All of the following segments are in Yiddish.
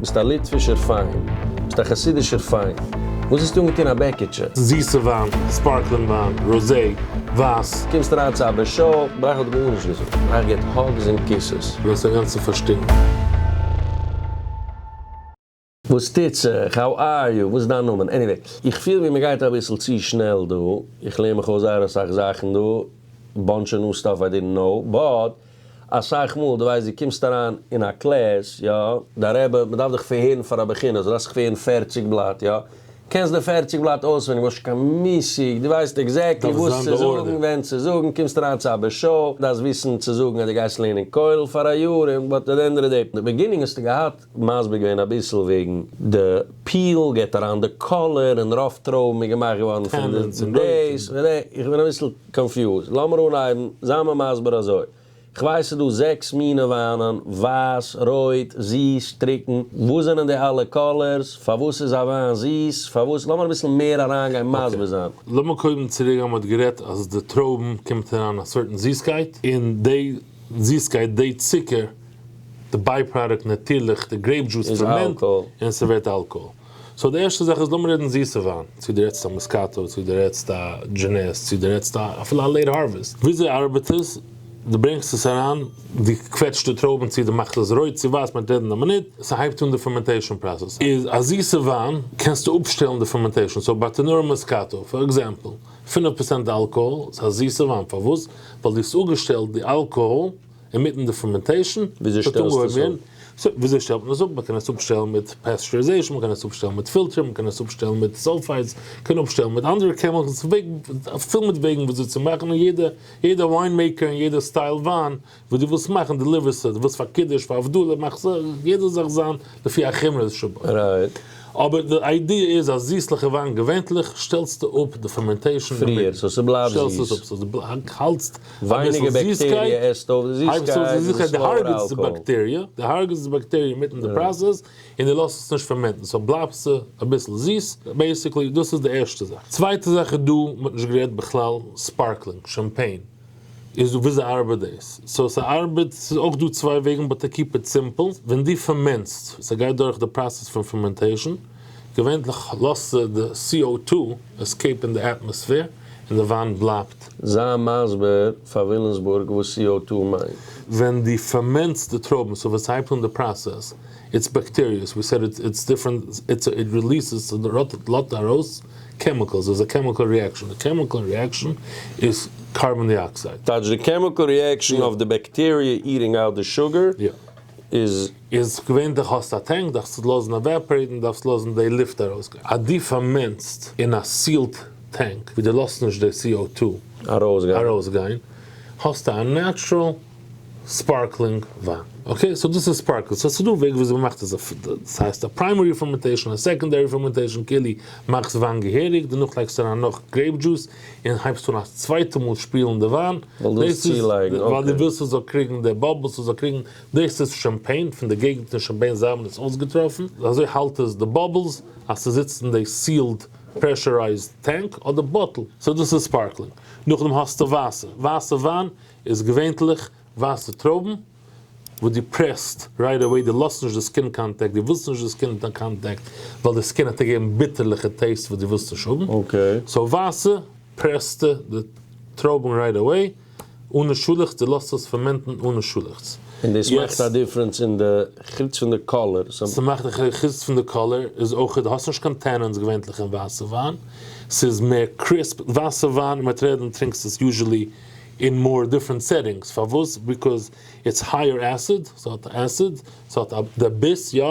ביסט א ליטווישער פיין. ביסט א חסידישער פיין. וואס האסטו אנגעטון א בעקיטשע? זיסע וויין, ספארקלינג וויין, ראזי, ווייס. קומסט אריין צו א בעש ט, בראך האט גארנישט געזאגט, בראך געט האגס און קיסעס. און האסט אינגאנצן פארשטינקן. וואס טוט זיך? האו אר יו? וואס איז דיין נאמען? עניוועי, איך פיל ווי מ'גייט אביסל צו שנעל דא. איך לערן מיך אויס זייער אסאך זאכן דא. באנטש אוו ניו סטאף איי דידנט קנאו, באט. אסאך מאל, דו ווייסט, דו קומסט אריין אין א קלעס, יא, די רבי, מ'דארף דיך פארהערן פאר א בחינה, זאלסט זיך פערן פערציג בלאט, יא, קענסט די פערציג בלאט אויסווענדיג, האסט שוין קיין מושג, דו ווייסט עקזעקטלי וואס צו זאגן, ווען צו זאגן, קומסט אריין צו א ב ש, דארפסט וויסן צו זאגן אז דו גייסט לערנען כולל פאר א יאר, און באט עט די ענד אוו די דעי, די ביגינינג האסטו געהאט, מסביר געווען אביסל וועגן די פיל, געט אריין די קאלער, און רוב טרויבן איז געמאכט געווארן פון דאס, איך בין אביסל. קאנפיוזד, לאמיר אנהייבן, זיי מיר מסביר אזוי, כ'ווייס ס'איז דא זעקס מינע וויינען, ווייס, רויט, זיס, טרוקן, וואס זענען די אלע קאלערס, פארוואס איז א וויין זיס, פארוואס, לאמיר אביסל מער אריינגיין מסביר זיין. לאמיר קודם צוריק גיין, מען האט גערעדט אז די טרויבן קומט אריין א סארטן זיסקייט, און די זיסקייט, די צוקער, די ביי פראדוקט נאטירליך די גרעיפ דזשוס איז פארמענט, און ס'ווערט אלקאהאל. סאו די ערשטע זאך איז לאמיר רעדן זיסע וויין, צו דו רעדסט א מאסקאטא, צו דו רעדסט א דזשענעס, צו דו רעדסט א אפילו א לעיט הארוועסט, וויאזוי ארבעט עס, דו ברענגסט עס אריין, דו קוועטשט די טרויבן צו דו מאכסט עס רויט צו ווייס, מען וועט רעדן אין א מינוט, עס הייבט אן די פערמענטעישאן פראסעס, איז א זיסע וויין קענסטו אפשטעלן די פערמענטעישאן, סאו ביי טענארא מאסקאטא פאר עקזעמפל, פֿינף פראצענט אלקאהאל, ס'איז א זיסע וויין, פארוואס? ווייל דו האסט אפגעשטעלט די אלקאהאל, אינמיטן די פערמענטעישן, וויאזוי שטעלסטו עס אפ? סאו, וויאזוי שטעלט מען עס אפ? מ'קען עס אפשטעלן מיט פעסטשעריזעישן, מ'קען עס אפשטעלן מיט פילטערן, מ'קען עס אפשטעלן מיט סאלפייטס, מ'קען אפשטעלן מיט אנדערע קעמיקלס, פול מיט וועגן וויאזוי צו מאכן, און יעדע יעדע וויין מעיקער און יעדע סטייל וויין וואס דו ווילסט מאכן דעליווערסט עס, דו ווילסט פאר קידוש, פאר הבדלה, מאך עס, יעדע זאך זיין לפי החומרא שבו. אבער די איידיע איז אז זיסליכע וויין געווענטליך שטעלסטו אפ די פערמענטעישן פריער, סאו ס'בלייבט זיס. ווייניגער בעקטעריע עסט אויף די זיסקייט, איז עס לאוער אלקאהאל. די הארגעסט די בעקטעריע מיטן די פראסעס, און די לאזט עס נישט פערמענטן, סאו בלייבט עס אביסל זיס, בעיסיקלי דאס איז די ערשטע זאך. צווייטע זאך איז דא, מען האט נישט גערעדט בכלל, ספארקלינג, שאמפעין, איז דא וויאזוי ארבעט דאס? סאו ס'ארבעט, ס'איז אויך דא צוויי וועגן באט קיפ איט סימפל, ווען דו פערמענטסט, ס'גייט דורך די פראסעס פון פערמענטעישן, געווענליך לאזט זיך די סי או טו עסקעיפ אין די אטמאספער און די וואנט בלייבט. זיי מסביר פאר ווילימסבורג וואס סי או טו מיינט. ווען די פערמענטסט די טרויבן סאו וועסט הייבט אן די פראסעס איטס בעקטעריעס ווי סעד איטס דיפרענט איטס איט ריליסעס לאזט ארויס קעמיקעלס איז א קעמיקעל ריעקשאן די קעמיקעל ריעקשאן איז קארבאן דיאקסייד. טייטש די קעמיקעל ריעקשאן אויף די בעקטעריע איטינג אוט די שוגער איז. איז געווענדליך האסטו א טענק דארפסט עס לאזן עוועפערעיטן דארפסט לאזן די לופט ארויסגיין אז די פארמענסט אין א סיעלט טענק ווי די לאזט נישט די סי או טו ארויסגיין האסטו א נעטשרעל ספארקלינג וויין אקעי סאו דאס איז ספארקלינג סאו ס'דא וועג וויאזוי מ'מאכט עס דאס הייסט א פריימערי פערמענטעישן א סעקענדערי פערמענטעישן כולי מאכסט וויין געהעריג דערנאך לייגסט אריין נאך גרעיפ דזשוס און הייבסט אן א צווייטע מאל שפילן די וויין דאס איז ווייל די ווילסט ס'זאל קריגן די באבלס ס'זאל קריגן דאס איז שאמפעין פון די געגנט אין שאמפעין זיי האבן עס אויסגעטראפן, אזוי האלט עס די באבלס אז ס'זיצט אין די סיעלד פרעשורייזד טענק אדער באטל, סאו דאס איז ספארקלינג. נאכדעם האסטו ווייסע, ווייסע וויין איז געווענטליך ווייסע טרויבן וואס דו פרעסט רייט עוועי, דו לאזט נישט די סקין קאנטעקט, דו ווילסט נישט די סקין קאנטעקט ווייל די סקין העט געבן ביטערליכע טעיסט וואס דו ווילסט נישט האבן, סאו ווייסע פרעסטו די טרויבן רייט עוועי. אנע שולעכץ, די לאזט עס פערמענטן אנע שולעכץ. און דאס מאכט א דיפרענס אין די חוץ פון די קאלער סא. ס'מאכט א חוץ פון די קאלער איז אויך די האסט נישט קיין טענענס געווענטליך אין ווייסע וויין ס'איז מער קריספ ווייסע וויין מער טרעדען טרינקסט עס יוזשעלי אין מאר דיפרענט סעטינגס פארוואס ביקאז איטס הייער עסיד ס'האט עסיד ס'האט א די ביס יא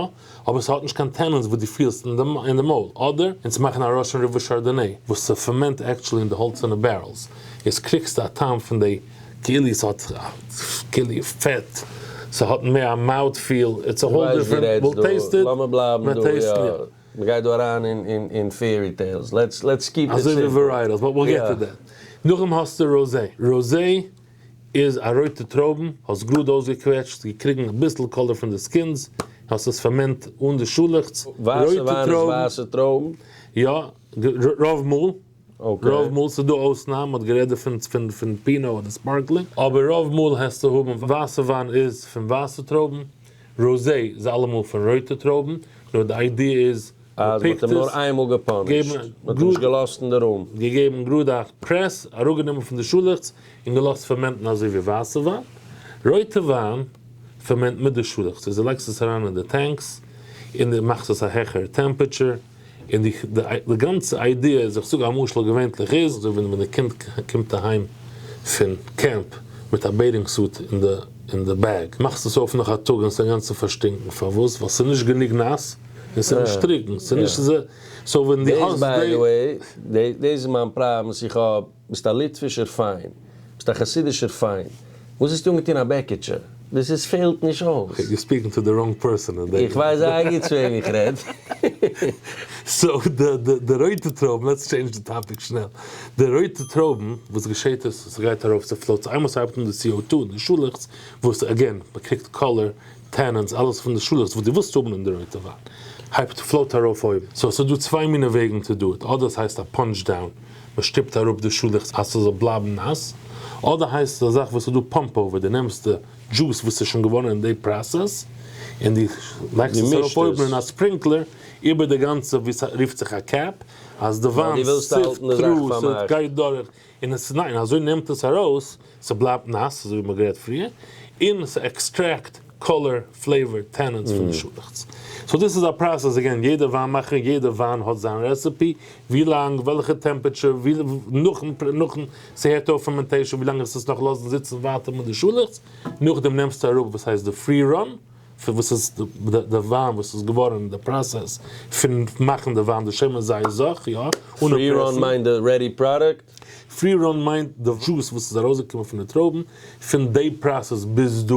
אבער ס'האט נישט קיין טענענס וואס דו פילסט אין די מויל, אדער? און צו מאכן א ראשען ריווע שארדאנעי וואס ס'פערמענט עקטשולי אין די האלצערנע בערעלס, איז קריגסטו א טעם פון די כאילו ס'האט כאילו פעט, ס'האט מער א מאוט פיל, איטס א האול דיפרענט וויל טעיסט איט, מען טעיסט מיר. מ'גייט דא אריין אין פעירי טעילס, לעטס קיפ איט סימפל. אזוי ווי ווערייטעלס, באט וויל געט טו דעט. נאכדעם האסטו ראזעי. איז א רויטע טרויבן, האסט גראד אויסגעקוועטשט, געקריגן אביסל קאלער פון די סקינס, און האסט עס פארמענט אן די שאלעכץ, ווייסע רויטע וויין איז טרויבן. ווייסע טרויבן? יא, רוב מאל. רוב מאל, ס'איז דא אויסנאם, מ'האט גערעדט דערפון פון פינאו אדער ספארקלינג, אבער רוב מאל העסטו האבן ווייסע וויין איז פון ווייסע טרויבן, ראזעי איז אלעמאל פון רויטע טרויבן, נאר די איידיע איז אז מען האט אים נאר איין מאל געפאנישט, מען האט אים נישט געלאזט אין די רום. געגעבן גראדע א פרעס, אראפגענומען פון די שאלעכץ און געלאזט פערמענטן אזוי ווי ווייסע וויין. רויטע וויין פערמענט מיט די שאלעכץ, איז די לייגסט עס אריין אין די טענקס און די מאכסט עס א העכערע טעמפעטשער, און די די גאנצע איידיע איז, איך זאג א משל, געווענטליך איז אזוי ווי ווען די קינד קומט אהיים פון קעמפ מיט א בעיטינג סוט אין די אין די בעג, מאכסט עס אויף נאך א טאג און עס אינגאנצן פארשטינקן, פארוואס? ווייל עס איז נישט גענוג נאס. און ס'איז נישט טרוקן, ס'איז נישט אזוי, סאו ווען דו האסט דעי. דעיס ביי די וועי, דעיס איז מיין פראבלעמס איך האב, ביסט א ליטווישער פיין, ביסט א חסידישער פיין, וואס האסטו אנגעטון א בעקיטשע, דאס איז פעלט נישט אויס. יור ספיקינג טו די ראנג פערסאן אין דעי. איך ווייס זייער גוט צו וועם איך רעד. סאו די די די רויטע טרויבן, לעטס טשעינדזש די טאפיק שנעל, די רויטע טרויבן, וואס געשעהט איז, ס'גייט ארויף, ס'פלאוט, איינמאל ס'הייבט אן די סי או טו, די שאלעכץ, וואס, עגעין, מ'קריגט קאלער, טענענטס, אלעס פון די שולעס וואס דו ווילסט האבן אין די רויטע וואן, הייבט פלאוט ארויף אויבן, סאו ס'איז דא צוויי מינע וועגן טו דו איט, אדער עס הייסט א פאנטש דאון, מען שטופט אראפ די שולעכץ אז ס'זאל בלייבן נאס, אדער הייסט עס א זאך וואס איז דא פאמפ אווער, דו נעמסט די דזשוס וואס איז שוין געווארן אין די פראסעס, און דו לייגסט עס ארויף אויבן אין א ספרינקלער איבער די גאנצע ווי ס'רופט זיך א קעפ, אז די וויין סיפט טרו, ס'גייט דורך און עס ניין אזוי נעמט עס ארויס ס'בלייבט נאס אזוי ווי מ'האט גערעדט פריער, און ס'עקסטרעקט קאלער פלעיוואר טענענטס פון די שאלעכטס. סאו דאס איז א פראסעס אגעין יעדע וויין מאכער יעדע וויין האט זיין רעסעפי ווי לאנג וועלכע טעמפעטשער ווי נאכן נאכן ס'הערט אויף פערמענטעישן ווי לאנג עס עס נאך לאזן זיצן ווייטער מיט די שאלעכטס נאכדעם נעמסטו אראפ וואס הייסט די פרי ראן פון וואס איז די וויין וואס איז געווארען די פראסעס פון מאכען די וויין די שמן זית זך יא אנע פרעסען. פרי ראן מיינט די רעדי פראדוקט? פרי ראן מיינט די דזשוס וואס איז ארויס געקומען פון די טרויבען פון די פראסעס ביז דא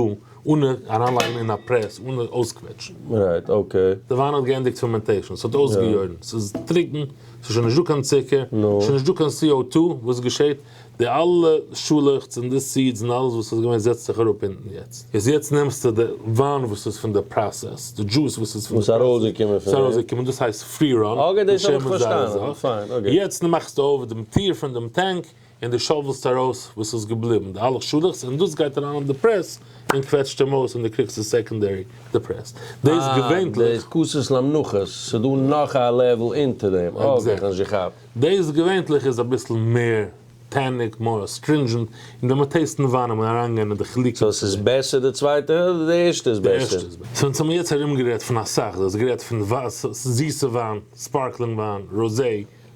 אנע אריין לייגען אין א פרעס אנע אויסקוועטשען. רייט אקעי. די וויין האט געענדיגט פערמענטעישען ס'האט אויסגעיורען ס'איז טרוקען ס'איז שוין נישט דא קיין צוקער ס'איז שוין נישט דא קיין סי או טו וואס געשעהט די אלע שאלעכץ און די סידס און אלעס וואס איז געווען זעצט זיך אראפ אונטן יעצט, איז יעצט נעמסטו די וויין וואס איז פון די פראסעס, די דזשוס וואס איז פון די פראסעס, וואס איז ארויסגעקומען, דאס הייסט פרי ראן, די שם איז זייער זאך, יעצט מאכסטו אויף דעם טיר פון דעם טענק און די שאוועלסט ארויס וואס איז געבליבן, די אלע שאלעכץ, און דאס גייט אריין אין די פרעס און קוועטשט אים אויס און די קריגסט די סעקאנדערי די פרעס, דאס געווענטליך. אה, דאס כוסות למנוחות, ס'דא נאך א לעוול אונטער דעם, אקעי, כ'האב נישט געכאפט. דעיס געווענטליך איז אביסל מער טעניג, מאר סטרינדזשענט, און דער מען טעיסטן וויין אן מען אריינגיין אין די חילוקים צו. סאו ס'איז בעסער די צווייטע אדער די ערשטע איז בעסער? סינס האמיר יעצט ארום גערעדט פון אסאך, דו האסט גערעדט פון זיסע וויין, ספארקלינג וויין, ראזע,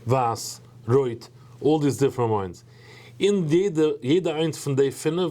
ווייס, רויט, אלל דיס דיפרענט וויינס, אין יעדע איינס פון די פינף,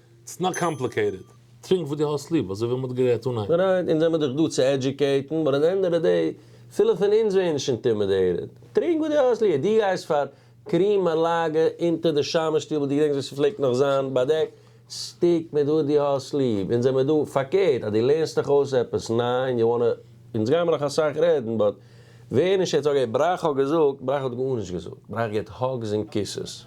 ס'איז נאר קאמפליקעיטעד. טרינק וואס דו האסט ליב, אזוי ווי מ'האט גערעדט אנהייב. פריינט, אונז זעמער דאך דא צו עדיוקעיטן, באט עט ענד אוו די דעי, פילע פון אונז ווערן שוין אינטימידעיטעד. טרינק וואס דו האסט ליעב, דו גייסט פאר קרעם א לאגע אונטער די שמש שטיבל, דו געדענקסט ווי ס'פלעגט נאך זיין, באדעק סטיק מיט וואס דו האסט ליעב, אונז זעמער דא פארקערט, אז דו לערנסט דיך אויס עפעס ניי און יו וואנט טו, אונז גיימער נאך אסאך רעדן, באט ווער נישט יעצט, אקעי, בראך האט געזאגט, בראך האט גארנישט געזאגט, בראך געט האגס און קיסעס.